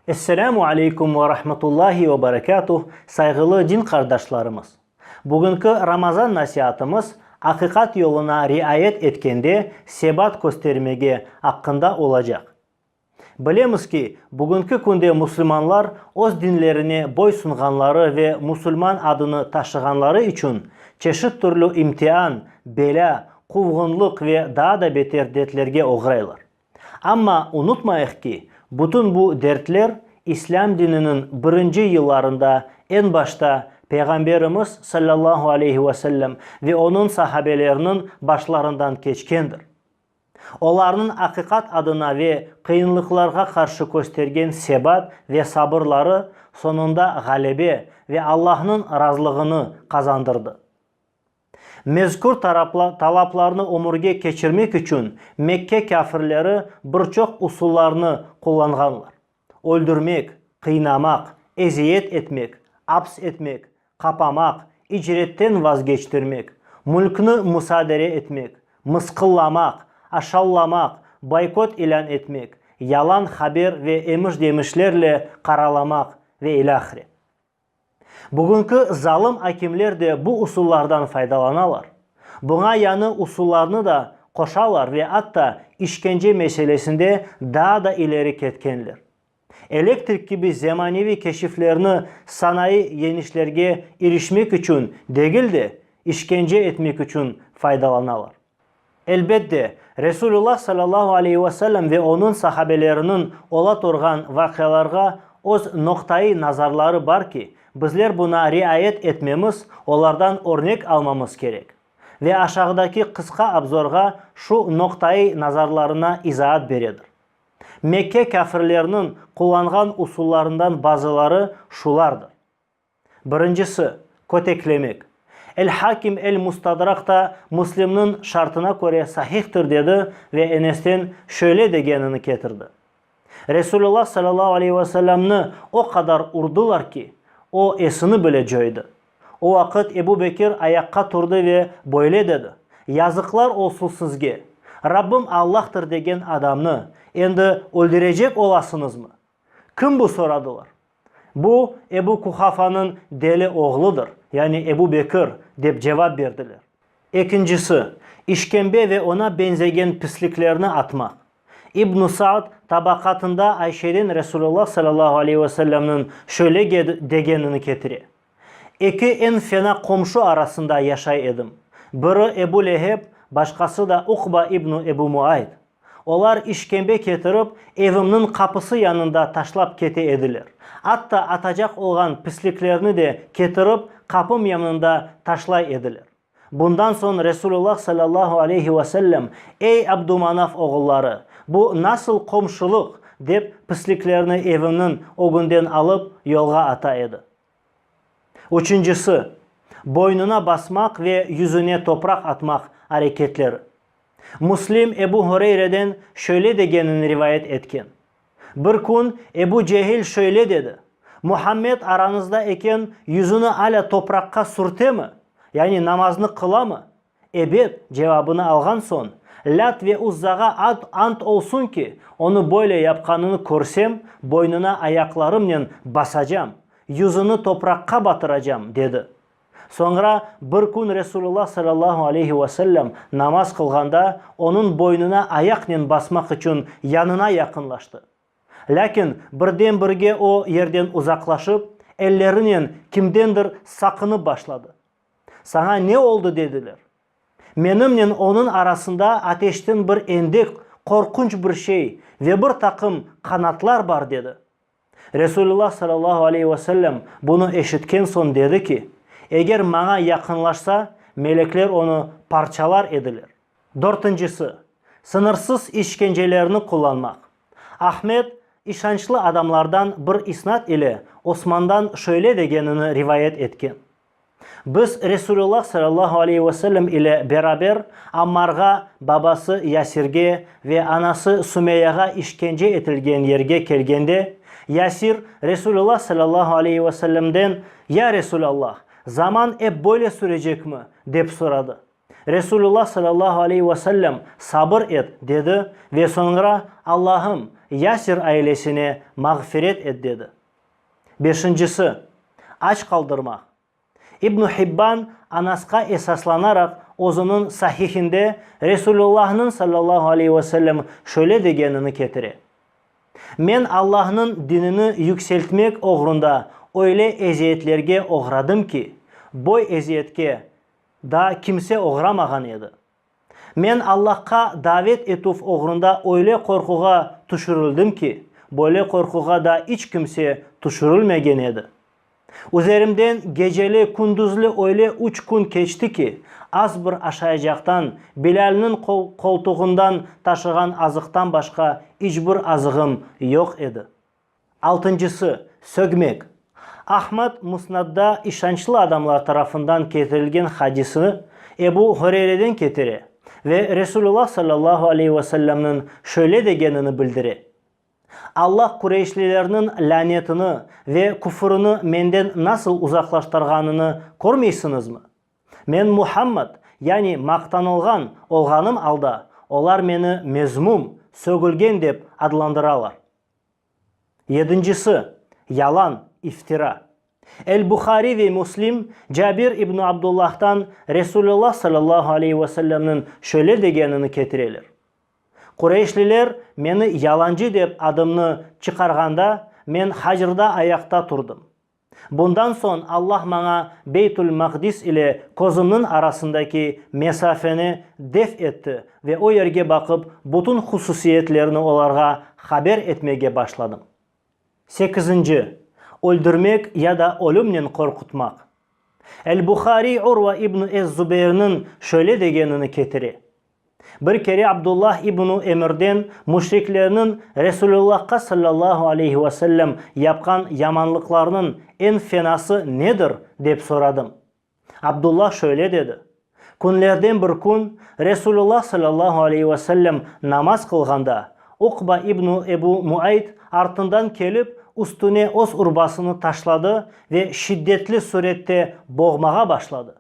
Esselamu aleykum ve rahmetullahi ve berekatuh, sayğılı din qardaşlarımız! Bugünki Ramazan nasiatımız aqiqat yoluna riayet etkende sebat köstermege aqqında olacaq. Bilemiz ki, bugünki künde musulmanlar öz dinlerine boy sunğanları ve musulman adını taşığanları içün çeşit türlü imtian, belâ, quvğunlıq ve daa da beter dertlerge oğraylar. Amma unutmayıq ki, bütün bu dertler İslâm dininiñ birinci yıllarında eñ başta Peyğamberimiz, sallallahu aleyhi ve sellem, ve onıñ sahabeleriniñ başlarından keçkendir. Olarnıñ aqiqat adına ve qıyınlıqlarğa qarşı köstergen sebat ve sabırları soñunda ğalebe ve Allahnıñ razılığını qazandırdı. Mezkür talaplarnı ömürge keçirmek içün Mekke kâfirleri bir çoq usullarnı qullanğanlar. öldürmek, qıynamaq, eziyet etmek, aps etmek, qapamaq, icretten vazgeçtirmek, mülkni musadere etmek, mısqıllamaq, aşavlamaq, boykot ilân etmek, yalan haber ve emiş-demişlerle qaralamaq ve ilâhre. Bugünki zalım akimler de bu usullardan faydalanalar. Buña yañı usullarnı da qoşalar ve atta işkence meselesinde daa da ileri ketkenler. Elektrik kibi zemaneviy keşiflerni sanayı yeñişlerge irişmek içün degil de, işkence etmek içün faydalanalar. Elbet de, Resulullah sallallahu aleyhi ve sellem ve onıñ sahabeleriniñ ola turğan vaqialarğa öz noqta-i nazarları bar ki, bizler buna riayet etmemiz, olardan örnek almamız kerek. Ve aşağıdaki qısqa abzorğa şu noqta-i nazarlarına izaat beredir. Mekke kâfirleriniñ qullanğan usullarından bazıları şulardır. Birincisi, köteklemek. El-Hakim El-Mustadrak da Müslimniñ şartına köre sahihtir dedi ve Enesten şöyle degenini ketirdi, Resulullah sallallahu aleyhi ve sellemni o qadar urdılar ki, o esini bile coydı. O vaqıt Ebu Bekir ayaqqa turdı ve böyle dedi, Yazıqlar olsun sizge! Rabbim Allah'tır degen adamnı endi öldürecek olasıñızmı? Kim bu? soradılar. Bu Ebu Kuhafanıñ deli oğludır, yani Ebu Bekir, dep cevap berdiler. Ekincisi, işkembe ve oña beñzegen pisliklerni atmaq. İbn-i Sa'd Tabaqatında Ayşeden Resulullah sallallahu aleyhi ve sellemniñ şöyle degenini ketire, Eki eñ fena qomşu arasında yaşay edim. Biri Ebu Leheb, başqası da Uqba ibnu Ebu Muayt. Olar işkembe ketirip, evimniñ qapısı yanında taşlap kete ediler. Atta atacaq olğan pisliklerni de ketirip, qapım yanında taşlay ediler. Bundan soñ Resulullah sallallahu aleyhi ve sellem, Ey Abdumanaf oğulları! Bu nasıl qomşulıq? dep, pisliklerni evimniñ ögünden alıp, yolğa ata edi. Üçüncisi, boynuna basmaq ve yüzüne topraq atmaq areketleri. Müslim Ebu Hureyre'den şöyle degenini rivayet etken. Bir kün Ebu Cehil şöyle dedi, Muhammed aranızda eken yüzüni alâ topraqqa sürtemi, yani namaznı qılamı? Ebet, cevabını alğan soñ, Lât ve Uzzağa ad ant olsun ki, onı böyle yapqanını körsem, boynuna ayaqlarımnen basacam, yüzüni topraqqa batıracam, dedi. Soñra bir kün Resulullah sallallahu aleyhi ve sellem namaz qılğanda onıñ boynuna ayaqnen basmaq içün yanına yaqınlaştı. Lâkin birden-birge o yerden uzaqlaşıp, ellerinen kimdendir saqınıp başladı. Saña ne oldı? dediler. Menimnen onıñ arasında ateşten bir endek, qorqunç bir şey ve bir taqım qanatlar bar, dedi. Resulullah sallallahu aleyhi ve sellem bunı eşitken soñ dedi ki, Eger maña yaqınlaşsa, melekler onı parçalar ediler. Dörtüncisi, sıñırsız işkencelerni qullanmaq. Ahmed işançlı adamlardan bir isnat ile Osmandan şöyle degenini rivayet etken, Biz Resulullah sallallahu aleyhi ve sellem ile beraber Ammarğa, babası Yasirge ve anası Sumeyağa işkence etilgen yerge kelgende, Yasir, Resulullah sallallahu aleyhi ve sellemden, Ya Resulallah, zaman ep böyle sürecekmi? dep soradı. Resulullah sallallahu aleyhi ve sellem, Sabır et, dedi ve soñra, Allahım, Yasir ailesine mağfiret et, dedi. Beşincisi, aç qaldırmaq. İbn Hibban Anasqa esaslanaraq özüniñ Sahihinde Resulullahnıñ sallallahu aleyhi ve sellem şöyle degenini ketire, Men Allahnıñ dinini yükseltmek oğrunda öyle eziyetlerge oğradım ki, boy eziyetke daa kimse oğramağan edi. Men Allahqa davet etüv oğrunda öyle qorquğa tüşürildim ki, böyle qorquğa da iç kimse tüşürilmegen edi. Üzerimden geceli-kündüzli öyle üç kün keçti ki, az bir aşayacaqtan, Bilâlniñ qoltuğından taşığan azıqtan başqa iç bir azığım yoq edi. Altıncısı, sögmek. Ahmad Musnadda işançlı adamlar tarafından ketirilgen hadisni Ebu Hureyreden ketire ve Resulullah sallallahu aleyhi ve sellemniñ şöyle degenini bildire, Allah Qureyşlilerniñ lânetini ve küfrini menden nasıl uzaqlaştırğanını körmeysiñizmi? Men Muhammad, yani maqtanılğan, olğanım alda, olar meni mezmum, sögülgen dep adlandıralar. Yedincisi, yalan, iftira. El-Buhariy ve Müslim Cabir ibn Abdullah'tan Resulullah sallallahu aleyhi ve sellemniñ şöyle degenini ketireler, Qureyşliler meni yalancı dep adımnı çıqarğanda, men Hacrda ayaqta turdım. Bundan soñ Allah maña Beytul-Maqdis ile közümniñ arasındaki mesafeni def etti ve o yerge baqıp, bütün hususiyetlerini olarğa haber etmege başladım. Sekizinci, Öldürmek ya da ölümnen qorqutmaq. El-Buhariy Urva ibn ez-Zubeyrniñ şöyle degenini ketire, Bir kere Abdullah ibn Emirden müşriklerniñ Resulullahqa sallallahu aleyhi ve sellem yapqan yamanlıqlarınıñ eñ fenası nedir? dep soradım. Abdullah şöyle dedi, Künlerden bir kün Resulullah sallallahu aleyhi ve sellem namaz qılğanda, Uqba ibn Ebu Muayt artından kelip, üstüne öz urbasını taşladı ve şiddetli sürette boğmağa başladı.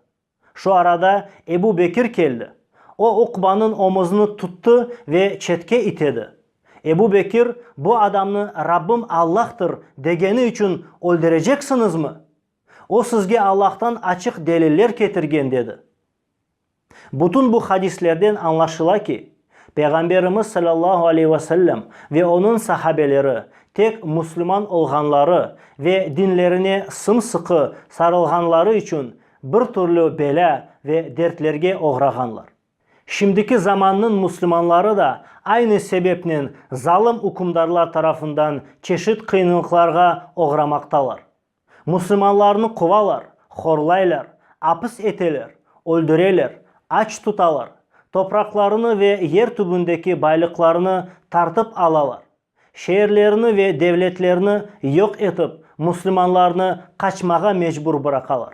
Şu arada Ebu Bekir keldi. O Uqbanıñ omuzını tuttı ve çetke itedi. Ebu Bekir, bu adamnı Rabbim Allah'tır degeni içün öldüreceksiñizmi? O sizge Allah'tan açıq deliller ketirgen, dedi. Bütün bu hadislerden añlaşıla ki, Peyğamberimiz sallallahu aleyh ve sellem ve onıñ sahabeleri tek müslüman olğanları ve dinlerine sım-sıqı sarılğanları içün Bir türlü belâ ve dertlerge oğrağanlar. Şimdiki zamannıñ müslümanları da aynı sebepnen zalım ükümdarlar tarafından çeşit qıyınlıqlarğa oğramaqtalar. Müslümanlarnı quvalar, horlaylar, apis eteler, öldüreler, aç tutalar, topraqlarını ve yer tübündeki baylıqlarını tartıp alalar. Şeerlerni ve devletlerni yoq etip, musulmanlarnı qaçmağa mecbur bıraqalar.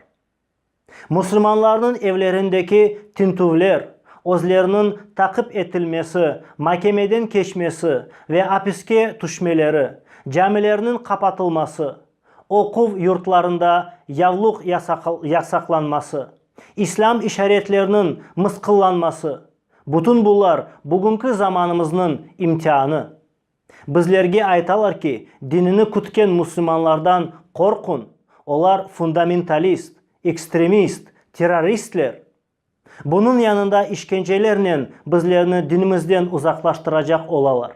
Musulmanlarnıñ evlerindeki tintüvler, özleriniñ taqip etilmesi, makemeden keçmesi ve apiske tüşmeleri, camilerniñ qapatılması, oquv yurtlarında yavluq yasaqlanması, İslâm işaretlerniñ mısqıllanması, Bütün bular, bugünki zamanımıznıñ imtianı. Bizlerge aytalar ki, dinini kütken müslümanlardan qorqun, olar fundamentalist, ekstremist, terroristler. Bunıñ yanında işkencelernen bizlerni dinimizden uzaqlaştıracaq olalar.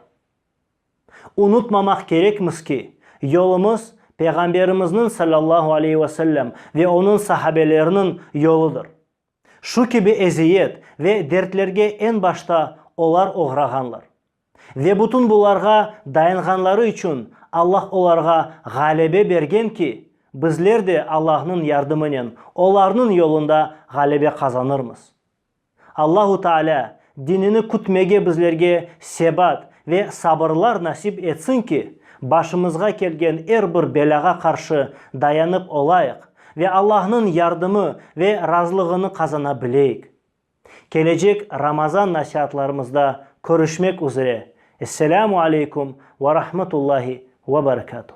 Unutmamaq kerekmiz ki, yolumız Peyğamberimizniñ, sallallahu aleyhi ve sellem, ve onıñ sahabeleriniñ yoludır. Şu kibi eziyet ve dertlerge eñ başta olar oğrağanlar. Ve bütün bularğa dayanğanları içün Alla olarğa ğalebe bergen ki, bizler de Allanıñ yardımınen olarnıñ yolunda ğalebe qazanırmız. Allahu Taalâ Dinini kütmege bizlerge sebat ve sabırlar nasip etsin ki, başımızğa kelgen er bir belâğa qarşı dayanıp olayıq ve Allahnıñ yardımı ve razılığını qazana bileyik. Kelecek Ramazan nasiatlarımızda körüşmek üzere. Esselâmu aleykum ve rahmetullahi ve berekâtuh.